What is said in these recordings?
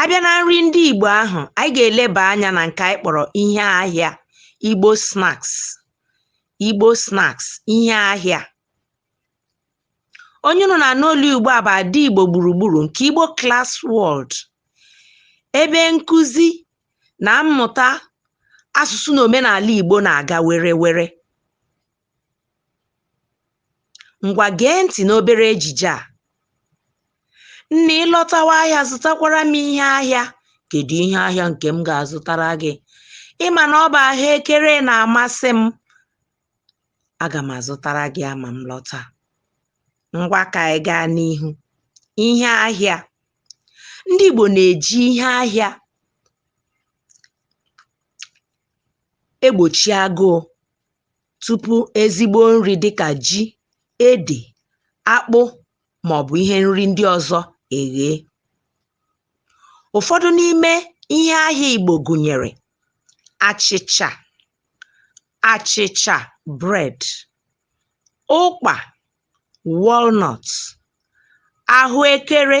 a bịa na nri ndị Igbo ahụ anyị ga-eleba anya na nke anyị kpọrọ ihe ahịa Igbo snacks Igbo snacks ihe ahịa onye unu na-anụ olu ugbu a bụ ada Igbo gburugburu nke Igbo Class World ebe nkụzi na mmụta asụsụ na omenala Igbo na-aga were were Ngwa gee ntị n'obere ejije a. Nne ị lọtawa ahịa zụtakwara m ihe ahịa. Kedu ihe ahịa nke m ga-azụtara gị? Ị ma na ọ bụ ahụekere na-amasị m. Aga m azụtara gị ya ma m lọta. Ngwa ka anyị gaa n'ihu. Ihe ahịa. Ndị Igbo na-eji ihe ahịa egbochi agụụ tupu ezigbo nri dịka ji, ede, akpụ ma ọ bụ ihe nri ndị ọzọ eghee. Ụfọdụ n'ime ihe ahịa Igbo gụnyere achịcha achịcha bread, ụkpa walnut, ahụekere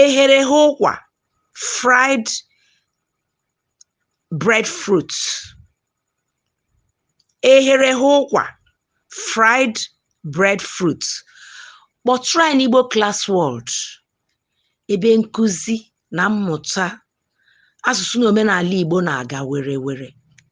eghere eghe ụkwa fried breadfruit eghere eghe ụkwa fried breadfruit kpọtụrụ anyị n'Igbo Class World ebe nkụzi na mmụta asụsụ na omenala Igbo na-aga were were